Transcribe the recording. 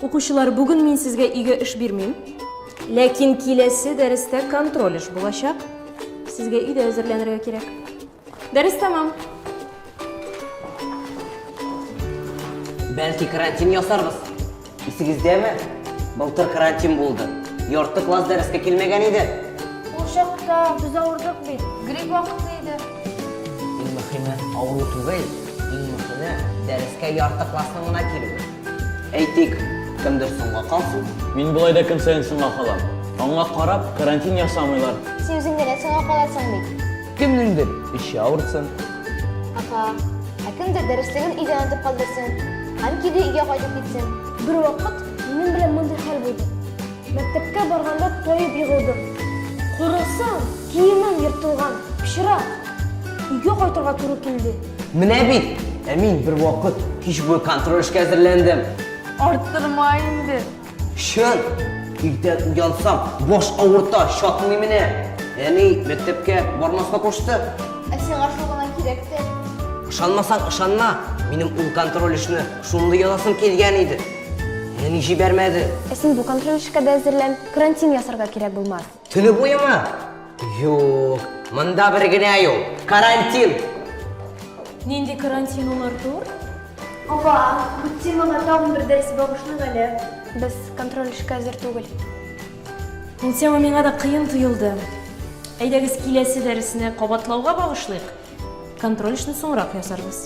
Укучылар, бүген мин сезгә өйгә эш бирмим. Ләкин киләсе дәрестә контроль эш булачак. Сезгә өйдә әзерләнергә кирәк. Дәрес тәмам. Бәлки карантин ясарбыз? Исегездәме? Былтыр карантин булды. Ярты класс дәрескә килмәгән иде. Ул чакта без авырдык бит. Грипп вакыты иде. Иң мөхиме авыру түгел, иң мөхиме дәрескә ярты классның гына килүе. Әйтик, кемдер соңга калсын. Мин болай да көн саен соңга калам. Аңа карап, карантин ясамыйлар. Син үзең генә соңга каласың бит. Кемнеңдер эче авырсын. Апа, ә кемдер дәреслеген өйдә онытып калдырсын. Һәм киде өйгә кайтып китсен. Бер вакыт минем белән мондый хәл булды. Мәктәпкә барганда тоеп егылдым. Карасам, киемем ертылган, пычрак. Өйгә кайтырга туры килде. Менә бит, ә мин бервакыт кич буе контроль эшкә әзерләндем. Арттырма инде. Чын! Иртән уянсам, баш авырта, чатмый менә. Әни мәктәпкә бармаска кушты. Ә сиңа шул гына кирәк тә. Ышанмасаң, ышанма. Минем ул контроль эшне шундый язасым килгән иде. Әни җибәрмәде. Ә син бу контроль эшкә дә әзерлән. Карантин ясарга кирәк булмас. Төне буеме? Юк, монда бер генә юл. Карантин. Нинди карантин ул, Артур? Апа, бу темага тагын бер дәрес багышлыйк әле. Без контроль эшкә әзер түгел. Ул тема миңа да кыен тоелды. Әйдәгез киләсе дәресне кабатлауга багышлыйк. Контроль эшне соңрак ясарбыз.